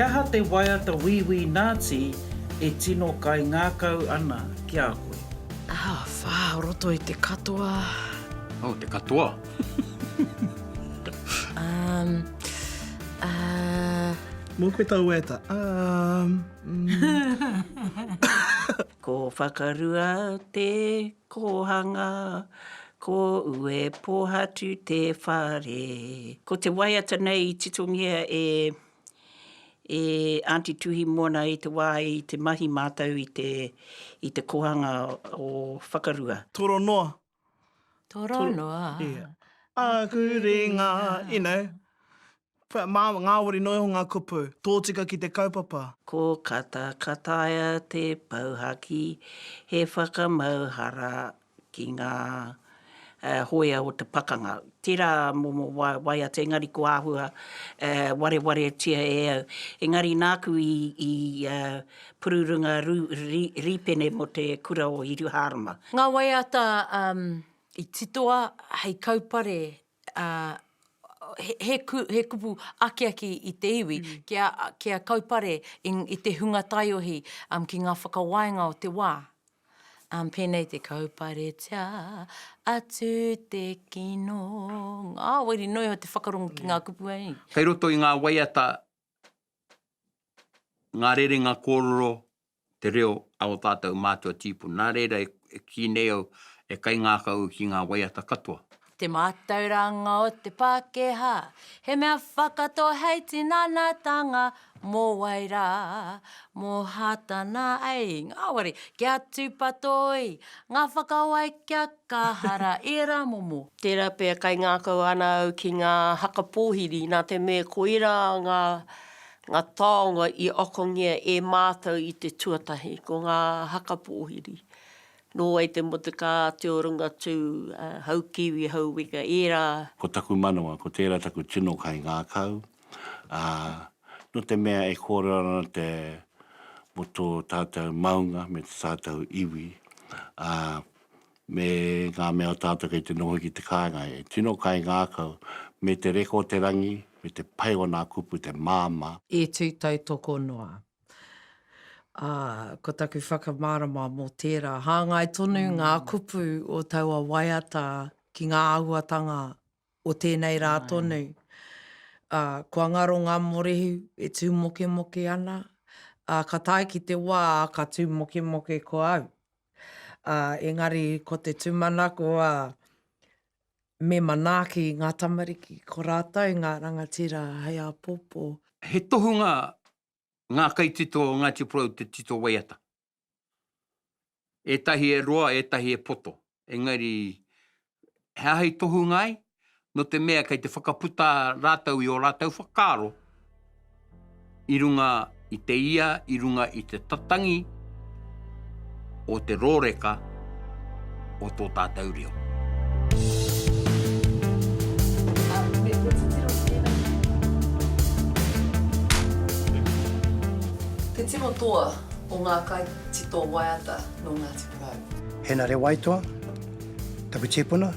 He aha te waiata Wīwī Nāti e tino kaingākau ana ki a koe? Ah, whā, roto i te katoa. Oh, te katoa. um, uh... Mō koe tau e ta. Um, mm. ko whakarua te kohanga, ko ue pohatu te whare. Ko te waiata nei i titongia e E Aunty Tuhimoana i te wā i te mahi mātou i te i te kohanga o Whakarua. Toro noa. Toro noa. Yeah. Aku ringa. You know. But mā, ngāwari noa iho ngā kupu. Tōtika ki te kaupapa. Ko Kata Kataia te pouhaki, he whakamauhara ki ngā hōia o te pakanga. Tērā momo waiata engari ko āhua warewaretia e au. Engari nāku i pururunga rīpene mō te kura o Hiruhārama. Ngā waiata i titoa hei kaupare he kupu akiaki i te iwi kia kaupare i te hunga taiohi ki ngā whakawainga o te wā. Pēnei te kauparetia atu te kino, ngāwari noa iho te whakarongo ki ngā kupu hei. Kei roto i ngā waiata ngā rerenga kōrero te reo a o tātou mātua tīpu. Nā reira e kī nei au, e kaingākau au ki ngā waiata katoa. Te mātauranga o te Pākehā, he mea whakatō hei tinanatanga mō wai rā, mō Hātana ei. Ngāwari, kia tūpato oi, ngā whakawai kia kaha rā, ērā momo. Tērā pea kaingākau ana au ki ngā haka pōhiri, nā te mea koirā ngā Ngā taonga i akongia e mātou i te tuatahi ko ngā haka pōhiri, nō wai te motukā, te orungatū, hau kiwi, hau weka, ērā. Ko taku manawa, ko tērā taku tino kaingākau, ā, nō te mea e kōrero ana te, mō tō tātou maunga me tō tātou iwi, ā, me ngā mea o tātou kei te noho ki te kāinga e tino kaingākau, me te reka o te rangi, me te pai o nā kupu te māmā. E tū tautoko noa. Ā, ko taku whakamārama mō tērā, hāngai tonu ngā kupu o taua waiata ki ngā āhuatanga o tēnei rā tonu. Ā, kua ngaro ngā morehu e tū mokemoke ana, ā, ka tae ki te wā ka tū mokemoke ko au. ā, engari ko te tūmanako, ā, me manaaki ngā tamariki, ko rātou ngā rangatira hei āpōpō. He tohunga ngā kaitito o Ngāti Porou o te tito waiata. Ētahi e roa, ētahi e poto, engari He aha i tohunga ai? Nō te mea kei te whakaputa rātou i ō rātou whakaaro i runga i te ia, i runga i te tatangi o te rōreka o tō tātou reo. Te tino toa o ngā kaitito waiata nō Ngāti Porou. Hēnare Waitoa. Taku tipuna,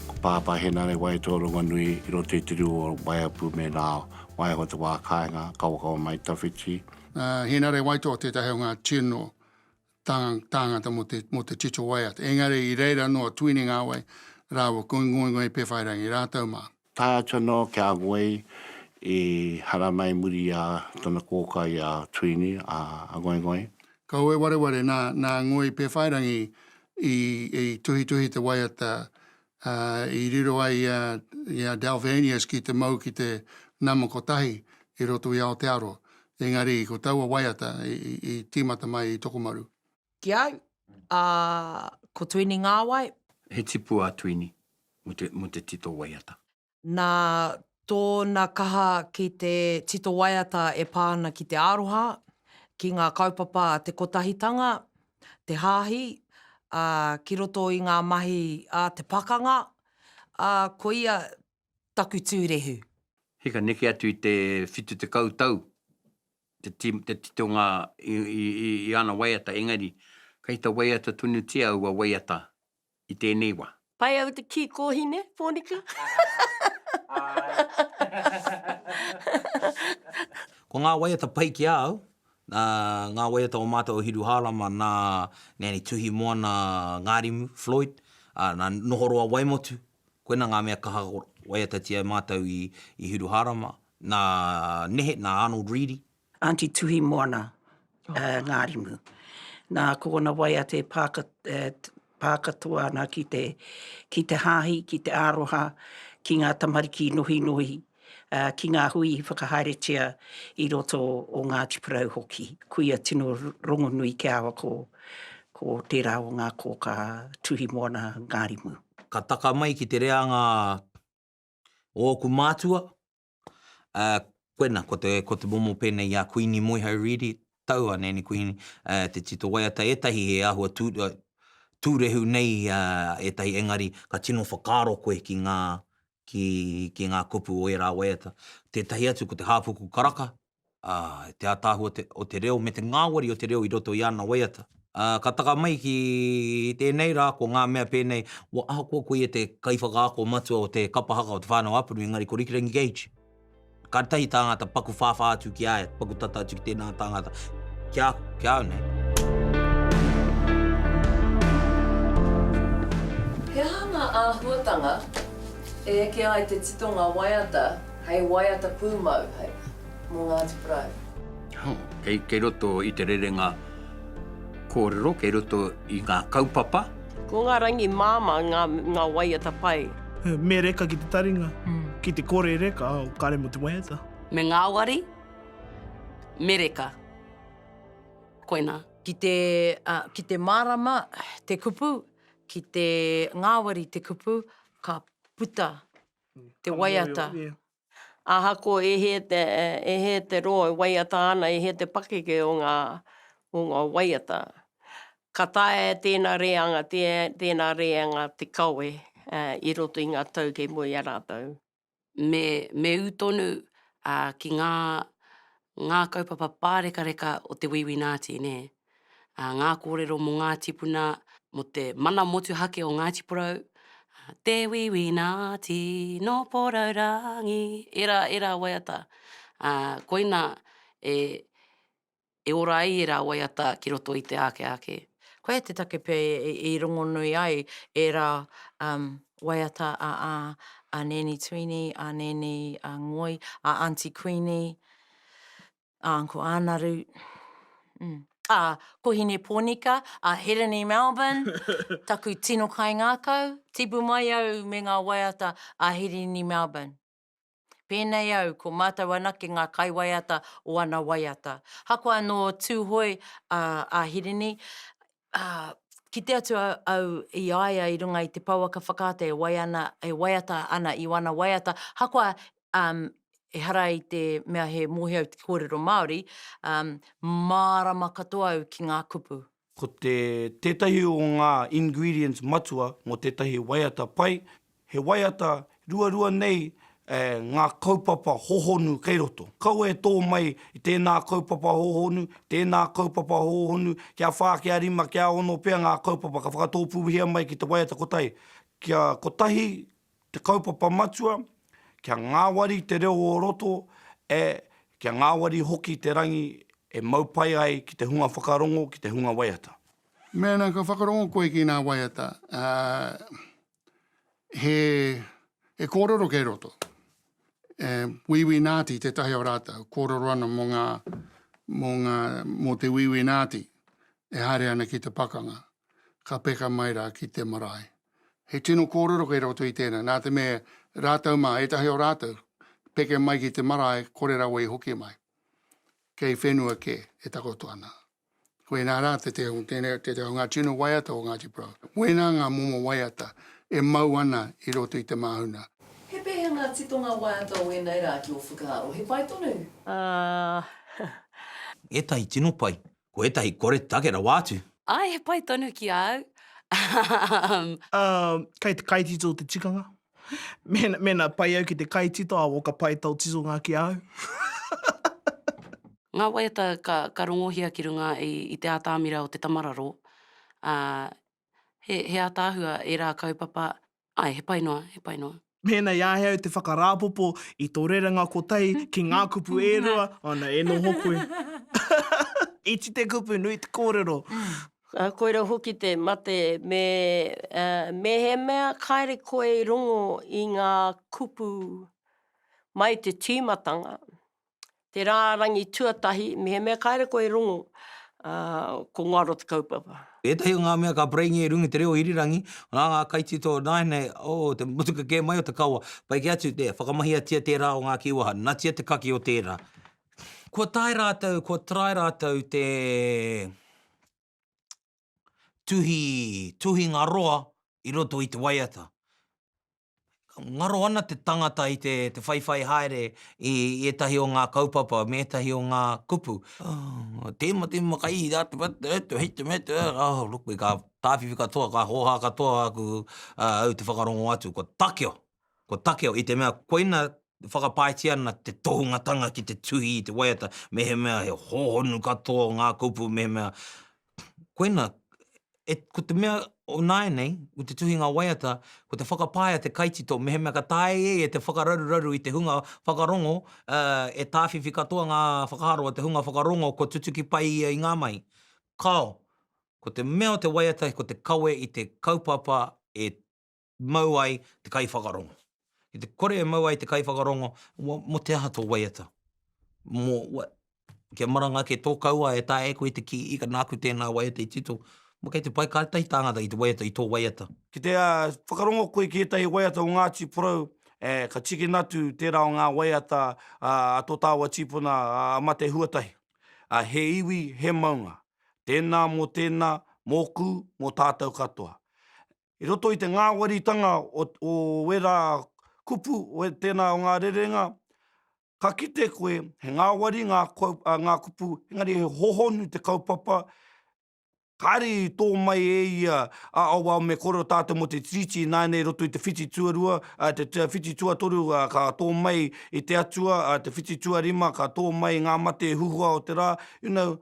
ko Pāpā Henare Waitoa o Rongonui i roto i te rū o Waiapu me Rao, waiho te wā kāinga, kawakawa mai tawhiti. Henare Waitoa tētahi o ngā tino tāngata mō te tito waiata, engari i reira noa Tuinengawe rāua ko Ngoingoi Pewhairangi rātou mā. Tae atu anō ki a Ngoi i haramai i muri i a tana kōkā i a Tuini, a Ngoingoi. Kaue wareware nā, nā Ngoi Pewhairangi i, i tuhituhi te waiata, ā, i riro ai i a, i a Dalvanius ki te mau ki te nama kotahi i roto i Aotearoa. Engari ko taua waiata i, i, i tīmata mai i Tokomaru. Ki au, ā, ko Tuini Ngāwai. He tipu a Tuini mō te tito waiata. Nā tōna kaha ki te tito waiata e pā ana ki te aroha, ki ngā kaupapa a te kotahitanga, te hāhi, ā, ki roto i ngā mahi a te pakanga, ā, ko ia taku tūrehu. He ka neke atu i te whitu tekau tau te titonga i ana waiata engari kei te waiata tonutia aua waiata i tēnei wā. Pai au te kī kōhine, Pōnika? Āe. Ko ngā waiata pai ki a au, nā, ngā waiata o mātou o Hiru Hārama, nā, nēnei Tuhimoana Ngārimu, Floyd, ā, nā, Nohoroa Waimotu, Koina ngā mea kaha ka waiatatia e mātou i Hiruhārama, nā nehe, nā Arnold Reedy. Aunty Tuhimoana Ngārimu. Nā, ko ōna waiata e pā katoa ana ki te hāhi, ki te aroha, ki ngā tamariki nohinohi ki ngā hui i whakahaeretia i roto o Ngāti Porou hoki. Kuia tino rongonui kia awa ko ko tērā o ngā kōkā Tuhimoana Ngārimu. Ka taka mai ki te reanga o ōku mātua, ā, koina, ko te, ko te momo pēnei i a Kuini Moeho Reedy, taua, nēni Kuini, ā, te tito waiata, ētahi he āhua tū, tūrehu nei ā, ētahi engari ka tino whakaaro koe ki ngā, ki ngā kupu o ērā waiata. Tētahi atu ko te hāpuku karaka, te ātaahua o te reo me te ngāwari o te reo i roto i ana waiata. Ka taka mai ki tēnei rā ko ngā mea pēnei, ahakoa ko ia te kaiwhakaako matua o te kapa haka o Te Whānau-a-Puni engari ko Rikirangi Gage. Ka tahi tāngata paku whāwhā atu ki a ia, paku tata atu ki tēnā tāngata, ki a, ki a au nei. He aha ngā āhuatanga e eke ai te titonga waiata hei waiata pūmau, hei, mō Ngāti Porou? Oh, kei, kei roto i te rerenga kōrero, kei roto i ngā kaupapa. Ko ngā rangi māmā ngā waiata pai. Me reka ki te taringa, ki te kore reka o kare mo te waiata. Me ngāwari, me reka. Koinā. Ki te, ki te mārama te kupu, ki te ngāwari te kupu, ka puta te waiata. Ahakoa e hē te, e hē te roa e waiata ana, e hē te pakeke o ngā, o ngā waiata, ka taea e tēnā rēanga, tēnā rēanga te kawe i roto i ngā tau kei mua i a rātou. Me, me ū tonu ki ngā, ngā kaupapa pārekareka o te Wīwī Nāti, nē. ā, ngā kōrero mō ngā tīpuna, mō te mana motuhake o Ngāti Porou, Te Wīwī Nāti, nō Porourangi, ērā, ērā waiata, ā, koina e, e ora ai ērā waiata ki roto i te āke ake. Koia te take pea i, i rongonui ai ērā, um, waiata a, a, a Nēni Tuini, a Nēni, a Ngoi, a Aunty Kuini, ā, ko Ānaru, mm, ā, ko Hinepōnika, ā, Hirini Melbourne, taku tino kaingākau, tipu mai au me ngā waiata a Hirini Melbourne. Pēnei au, ko mātou anake ngā kaiwaiata o ana waiata. Hakoa nō Tūhoe a, a Hirini, Ā, kite atu au i a ia i runga i te pouaka whakaata e wai ana, e waiata ana i wana waiata, ahakoa, um, ehara i te mea he mohi au ki te kōrero Māori, um, mārama katoa au ki ngā kupu. Ko te, tētahi o ngā ingredients matua mō tētahi waiata pai, He waiata ruarua nei ngā kaupapa hohonu kei roto. Kaua e tō mai i tēnā kaupapa hohonu, tēnā kaupapa hohonu, kia whā, kia rima, kia ono pea ngā kaupapa ka whakatōpūhia mai ki te waiata kotahi. Kia kotahi te kaupapa matua, kia ngāwari te reo o roto, ē, kia ngāwari hoki te rangi e mau pai ai ki te hunga whakarongo, ki te hunga waiata. Mēnā ka whakarongo koe ki ngā waiata, ā, he, he kōrero kei roto. E, Wīwī Nāti tētahi o rātou, kōrero ana mō ngā, mō ngā, mō te Wīwī Nāti e haere ana ki te pakanga, ka peka mai rā ki te marae. He tino kōrero kei roto i tēnā, nā te mea, rātou mā, ētahi o rātou, peke mai ki te marae, kore rawa i hoki mai. Kei whenua kē e takoto ana. Koinā rā te teo, tēnei te teo, ngā tino waiata o Ngāti Porou. Koinā ngā momo waiata e mau ana i roto i te māhuna. He pēhea ngā titonga waiata o ēnei rā ki ō whakaaro? He pai tonu? Ahh. Ētahi tino pai, ko ētahi kore take rawa atu. Āe, he pai tonu ki a au. Umm. Umm, kei te kaitito te tikanga. Mēnā pai au ki te kaitito a Walker Pai tō titonga ki a au. Ngā waiata ka rongohia ki runga i te ātamira o te tamararo, ā, he ātaahua ērā kaupapa, āe, he pai noa, he pai noa. Mēnā i āhei au te whakarāpopo i tō rerenga kotahi ki ngā kupu e rua, ana, e noho koe. Iti te kupu, nui te kōrero. Koirau hoki te mate me mehemea kāre koe i rongo i ngā kupu mai te tīmatanga, te rārangi tuatahi, mehemea kāre koe i rongo, ko ngaro te kaupapa. Ētahi o ngā mea ka paraingia i runga i te reo irirangi, nā ngā kaitito nāianei o te motuka kē mai o te kawa, pai kē atu, whakamahia tia tērā o ngā kīwaha, natia te kake o tērā. Kua tae rātou, kua try rātou te tuhi, tuhinga roa i roto i te waiata. Ngaro ana te tangata i te whaiwhai haere i ētahi o ngā kaupapa me ētahi o ngā kupu. Ngā tēma, tēma kai i rātou atu, atu, hei te mea, oh, look, me ka tāwhiwhi katoa, ka hōhā katoa aku, au te whakarongo atu, kua takeo, Ko Takeo, i te mea koina e whakapaetia ana te tohungatanga ki te tuhi i te waiata mehemea he hōhonu katoa ngā kupu mehemea koina e, ko te mea o nāianei, ko te tuhinga waiata, ko te whakapaea te kaitito mehemea ka taea e ia te whakararuraru i te hunga whakarongo, ā, e tāwhiwhi katoa ngā whakaaro o te hunga whakarongo kua tutuki pai ia i ngā mahi. Kāo. Ko te mea o te waiata ko te kawe i te kaupapa e mau ai te kaiwhakarongo. Ki te kore e mau ai te kaiwhakarongo, mō te aha tō waiata? Mō, kia maranga ake tō kauā e taea e koe te kī, ika nāku tēnā waiata i tito, mō kei te pai kā tētahi tāngata i te waiata, i tō waiata. Ki te whakarongo koe ki ētahi waiata o Ngāti Porou, ē, ka tikina atu tērā o ngā waiata a tō tāua tīpuna a Mate Huatahi. Ā, he iwi, he maunga. Tēnā mō tēnā, mōku, mō tātou katoa. I roto i te ngāwaritanga o, o ērā kupu, o tēnā o ngā rerenga, ka kite koe he ngāwari ngā, ā, ngā kupu, engari he hohonu te kaupapa, kāre i tō mai e ia a Auao me kore o tātou mō te Tiriti ināianei i roto i te whiti tuarua, ā, te whiti tuatoru, ā, ka tō mai i te Atua, ā, te whiti tuarima ka tō mai ngā mate huhua o te rā, you know,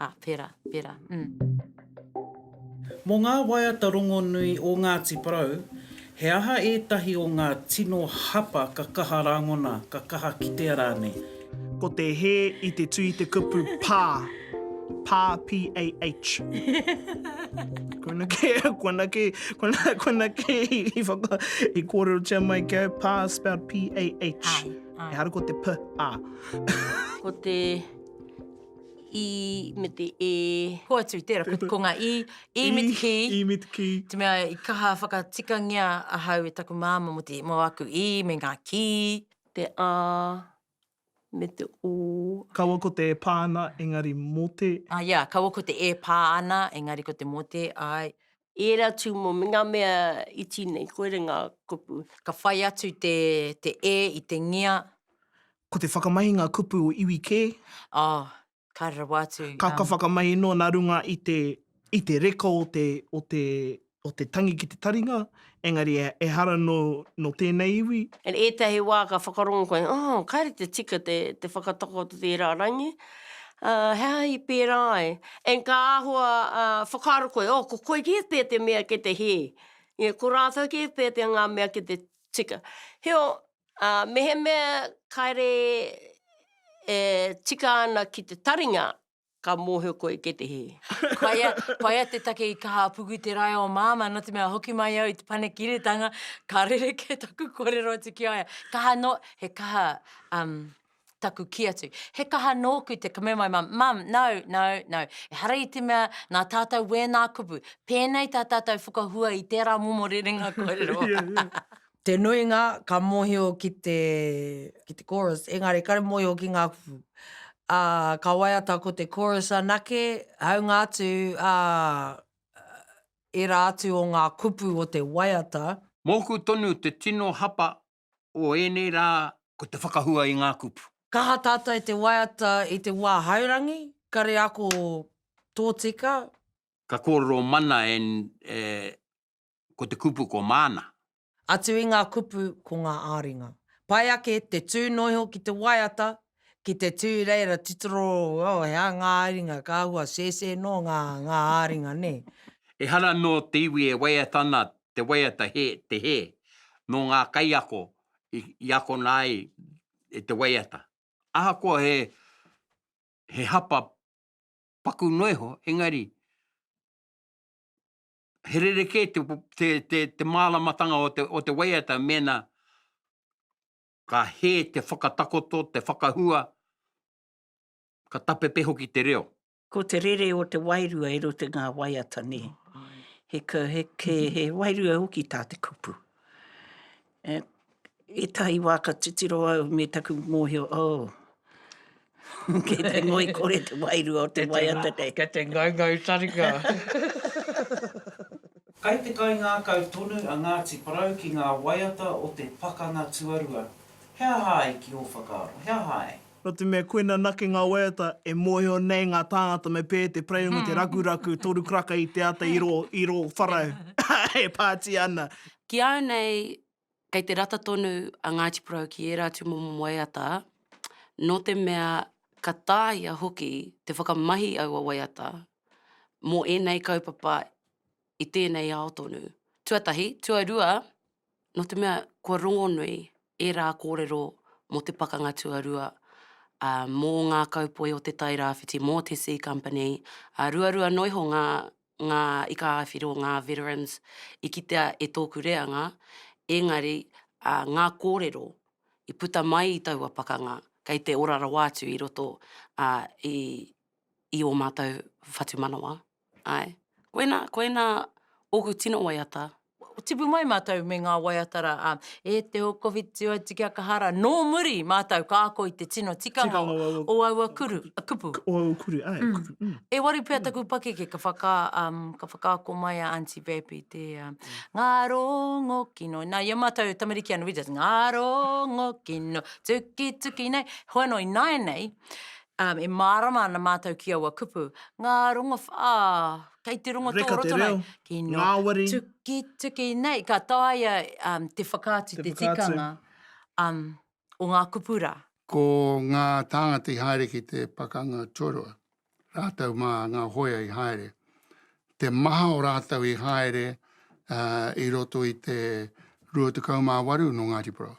Ā, pērā, pērā, ū. Mō ngā waiata rongonui o Ngāti Porou, he aha ētahi o ngā tino hapa ka kaha rāngona, ka kaha kitea rānei? Ko te hē i te tū i te kupu pā, pā, p-a-h. Koina kē, koina kē, koina, koina kē i whaka, i kōrerotia mai ki au, pā spelled p-a-h. Āe, āe. Ehara ko te p, ā. Ko te. i me te e. Hoatu, tērā, ko, ko ngā i, i me te ki. I, i me te ki. Te mea i kaha whakatikangia ahau e taku māma mō te, mō aku i me ngā ki. Te a, me te o. Kaua ko te e pā ana, engari mō te. Ah, ia, kaua ko te e pā ana, engari ko te mō te, āe. i ērā tū mō ngā mea iti nei, koira ngā kupu. Ka whai atu te e i te ngia. Ko te whakamahi ngā kupu o iwi kē. Oh, ka rawa atu. Ka, ka whakamahi noa nā runga i te, i te reka o te, o te, o te tangi ki te taringa, engari e, ehara nō, nō tēnei iwi. And ētahi wā ka whakarongo koe, oh, kāre te tika te, te whakatakoto tērā rangi. Ā, he aha i pērā ai? And ka āhua ā, whakaaro koe, oh, ko koekie pea te mea ki te hē. Ia, ko rātou kē pea te ngā mea ki te tika. Heoi, ā, mehemea kāre e tika ana ki te taringa, ka mōhio koe ki te hē. Koia, koia te take i kaha puku te rae o Māmā, nō te mea hoki mai au i te panekiretanga, ka rerekē taku kōrero atu ki a ia. Kaha noa, he kaha, um, taku kī atu, he kaha nōku te kumu mai mum, mum, no, no, no, ehara i te mea nā tātou wēnā kupu, pēnei tā tātou whakahua i tērā momo rerenga kōrero. Te nuinga ka mōhio ki te, ki te chorus, engari kare mōhio ki ngā kupu. Ā, ka waiata ko te chorus anake, hāunga atu, ā, ērā atu o ngā kupu o te waiata. Mōku tonu te tino hapa o ēnei rā ko te whakahua i ngā kupu. Kaha tātai te waiata i te wā haurangi, kare ako tōtika. Ka kōrero mana e ko te kupu ko māna. Atu i ngā kupu ko ngā āringa. Pai ake te tūnoiho ki te waiata Ki te tū reira titiro oh he aha ngā ringa ka hua sēsē nō ngā ngā āringa nē. Ehara nō te iwi e waiata ana te waiata he te hē nō ngā kaiako i akona ai e te waiata. Ahakoa he he hapa paku noa iho engari he rerekē te te te māramatanga o te o te waiata mēnā ka hē te whakatakoto, te whakahua, ka tapepe hoki te reo. Ko te rere o te wairua i roto i ngā waiata nei, he wairua hoki tā te kupu. Ētahi wā ka titiro au me taku mōhio, oh, Kei te ngoikore te wairua o te waiata kei. Kei te ngaungau taringa. Kai te kaingākau tonu a Ngāti Porou ki ngā waiata o te Pakanga Tuarua. He aha ai ki ō whakaaro? He aha ai? Nō te mea koina anake ngā waiata e mōhio nei ngā tāngata me pē te pareunga te rakuraku toru karaka i te ata i rō wharau e pātia ana. Ki au nei Kei te rata tonu a Ngāti Porou ki ērā tūmomo waiata, nō te mea ka tāia hoki te whakamahi aua waiata mō ēnei kaupapa i tēnei ao tonu. Tuatahi, tuarua, nō te mea kua rongonui ērā kōrero mō te Pakanga Tuarua, ā, mō ngā kaupoi o Te Tai Rāwhiti, mō te Sea Company, ā, ruarua noa iho ngā ngā ikaāwhiro, ngā veterans, i kitea e tōku reanga, engari ngā kōrero i puta mai i taua pakanga, kei te ora rawa atu i roto i ō mātou whatumanawa. Āe. Koinā, koinā ōku tino waiata, tipu mai mātou me ngā waiata rā, ā, e te o Covid tū atu ki a Kahara, nō muri mātou ka ako i te tino tikanga o aua kuru, kupu. O aua kuru, āe, kupu, mm. E waru pea taku pakeke ka whaka, um, ka whakaako mai a Aunty Bab i te, uh, ngā rōngo kino. Nā, i a mātou tamariki anō, we just, ngā rōngo kino, tuki tuki nei. Hoi anō, i nāianei, um, e mārama ana mātou ki aua kupu, ngā rongowh, ā, Kei te rongo tō roto nei. Ngāwari. Tuki, tuki nei. Ka taea te whakaatu, te tikanga o ngā kupu rā. Ko ngā tāngata i haere ki te pakanga tuarua, rātou mā ngā hōia i haere. Te maha o rātou i haere i roto i te 28 nō Ngāti Porou.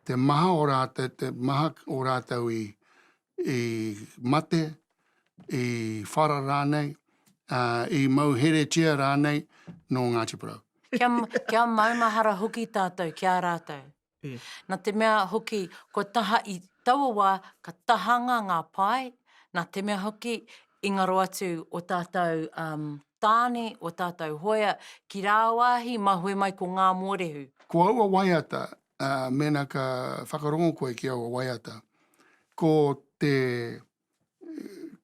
te maha o rātou, te maha o rātou i, i mate, i whara rānei, ā, i mau heretia rānei nō Ngāti Porou. Kia, kia maumahara hoki tātou ki a rātou. E. Nā te mea hoki, kua taha i taua wā, ka tahanga ngā pae, nā te mea hoki, i ngaro atu o tātou, um, tāne o tātou hoea ki rāwāhi mahue mai ko ngā mōrehu. Ko aua waiata, ā, mēnā ka whakarongo koe ki aua waiata, ko te,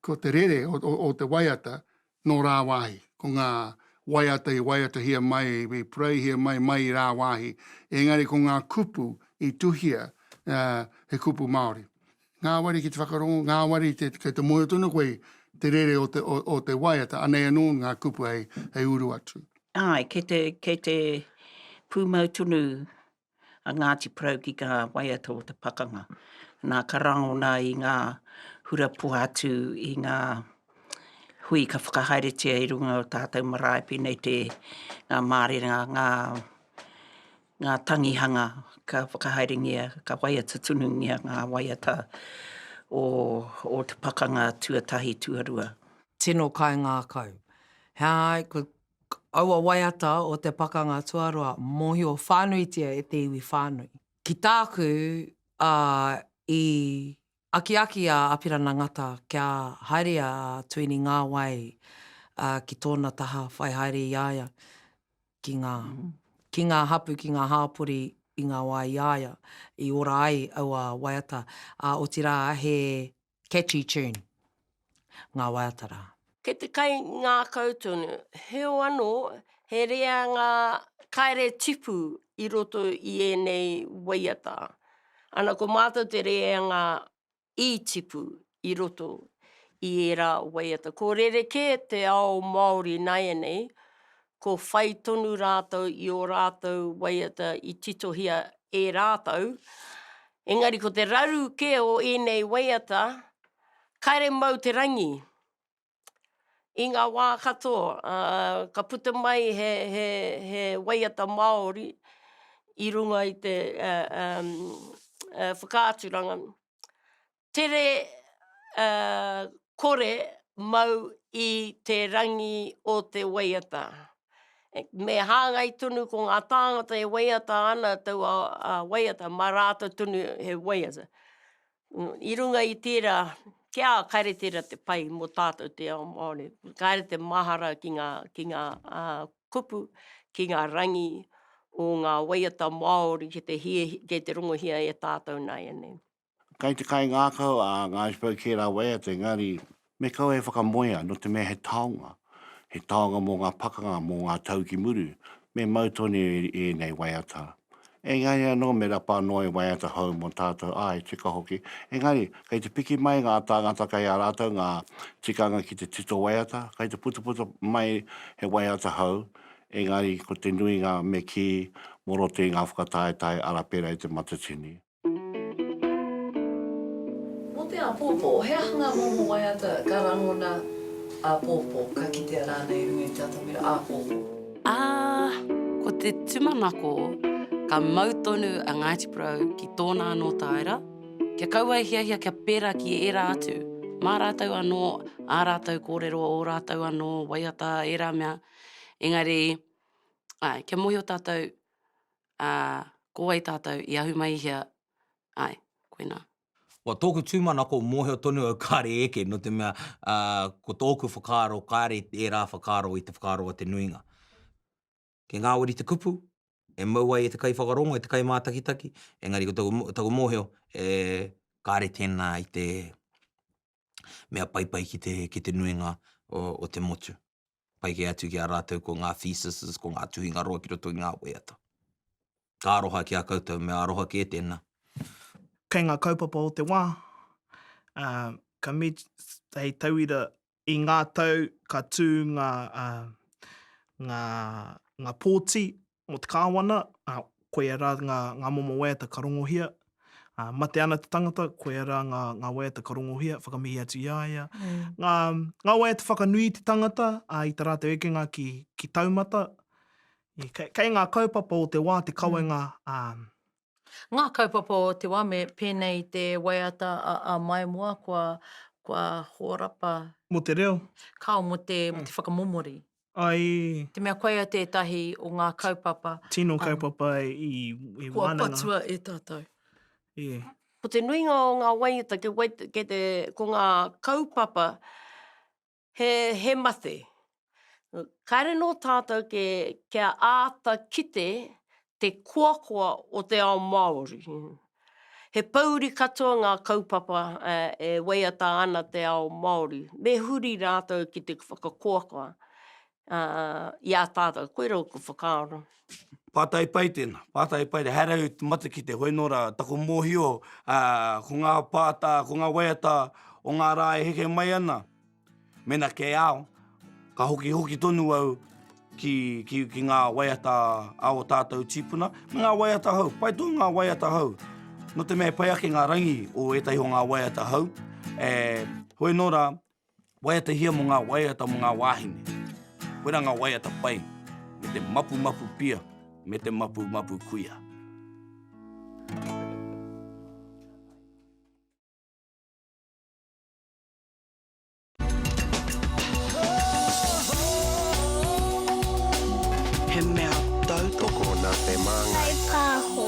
ko te rere o, o, o te waiata nō rāwāhi, ko ngā waiata i waiatahia mai, i pureihia mai, mai i rāwāhi, engari ko ngā kupu i tuhia, ā, he kupu Māori. Ngāwari ki te whakarongo, ngāwari i te, kei te mōhio tonu koe i te rere o te, o, o te waiata, anei anō ngā kupu hei, hei uru atu. Āe, kei te, kei te pūmau tonu a Ngāti Porou ki ngā waiata o te pakanga. Nā, ka rangona i ngā hura pohatu, i ngā hui ka whakahaeretia i runga o tātou marae, pēnei te, ngā mārena, ngā. ngā tangihanga ka whakahaerengia, ka waiata tunungia ngā waiata o, o te pakanga tuatahi, tuarua. Tino kaingākau. He aha ai, ko aua waiata o te pakanga tuarua, mōhio whānuitia e te iwi whānui. Ki tāku, ā, i Akiaki a Apirana Ngata kia haere a Tuini Ngāwai ki tōna taha, whai haere i a ia ki ngā, ki ngā hapū, ki ngā hāpori i ngā wā i a ia i ora ai aua waiata, ā, otirā he catchy tune. ngā waiata rā. Kei te kaingākau tonu, heo anō, he reanga kaere tipu i roto i ēnei waiata. Ana ko mātou te reanga i tipu i roto i ērā waiata. Ko rerekē te ao Māori nāianei, ko whai tonu rātou i ō rātou waiata i titohia e rātou, engari ko te raru kē o ēnei waiata, Kaere mau te rangi. I nga wa katoa, ka puta mai he waiata Maori i runga i te whakaaturanga, tere kore mau i te rangi o te waiata. Me hangai tonu ko nga tangata e waiata ana taua waiata ma ratou tonu he waiata. I runga i tērā, kia kare tērā te pai mō tātou te ao Māori. Kare te mahara ki ngā, ki ngā kupu, ki ngā rangi o ngā waiata Māori ki te hie, ki te rongohia e tātou nāianei. Kai te kaingākau a ngā Iceberg kērā waiata engari Me kaua e whakamoea, nō te mea he taonga, he taonga mō ngā pakanga, mō ngā tau ki muru, me mau tonu i ēnei waiata. Engari anō me rapa anō e waiata hou mō tātou, āe, tika hoki. Engari, kei te piki mai ngā tāngata kei a rātou ngā tikanga ki te tito waiata, kei te putaputa mai he waiata hou, engari ko te nuinga me kī mō roto i ngā whakataetae arapera i te matatini. Mō te āpōpō, he aha ngā momo waiata ka rangona āpōpō, ka kitea rānei i runga i te atamira āpōpō? Ā, ko te tūmanako, ka mau tonu a Ngāti Porou ki tōna anō tāera, kia kaua e hiahia kia pērā ki ērā atu, mā rātou anō, ā rātou kōrero, ō rātou anō waiata, ērā mea, engari, āe, kia mōhio tātou, Ā, ko wai tātou i ahu mai i hea? Āe, koinā. Ko tōku tūmanako mōhio tonu au kāre eke, nō te mea, ā, ko tōku whakaaro kāre ērā whakaaro i te whakaaro a te nuinga. Kei ngāwari te kupu, e mau ai e te kaiwhakarongo, e te kaimātakitaki, engari ko taku, taku mōhio, e, kāre tēnā i te mea paipai ki te, ki te nuinga o, o te motu. pai kē atu ki a rātou ko ngā theses, ko ngā tuhinga roa ki roto i ngā waiata. Ka aroha ki a koutou, mea aroha kē tēnā. Kei ngā kaupapa o te wā, ā, ka met, hei tauira, i ngā tau ka tū ngā, ā, ngā, ngā pōti Mō te Kāwana, koia rā ngā momo waiata ka rongohia. Mate ana te tangata, koia rā ngā waiata ka rongohia, whakamihi atu i a ia. Ngā waiata whakanui i te tangata, i tā rātou ekenga ki taumata. Kei ngā kaupapa o te wā te kawenga Ngā kaupapa o te wā me pēnei i te waiata a Maimoa kua hōrapa. Mō te reo. Kao mō te whakamomori. I. Te mea koia tētahi o ngā kaupapa. Tino kaupapa i wānanga. Kua patua e tātou. E. Ko te nuinga o ngā waiata, ko ngā kaupapa He mate. Kāre nō tātou kia āta kite te koakoa o te ao Māori. He pouri katoa ngā kaupapa e waiata ana te ao Māori. Me huri rātou ki te whakakoakoa. i a tātou, koirā ōku whakaaro. Pātai pai tēnā, pātai pai. He aha rau te matakite? Hoi nō rā, taku mōhio, ko ngā pātā, ko ngā waiata o ngā rā e heke mai ana, mēnā kei ao, ka hokihoki tonu au ki ngā waiata a ō tātou tīpuna, me ngā waiata hou. Pai tonu ngā waiata hou. Nō te mea e pai ake ngā rangi o ētahi o ngā waiata hou, hoi nō rā, Waiata hia mo nga waiata mo nga wahine, koira nga waiata pai me te mapumapu pia me te mapumapu kuia. He mea tautoko na te mangai. Kai Paho.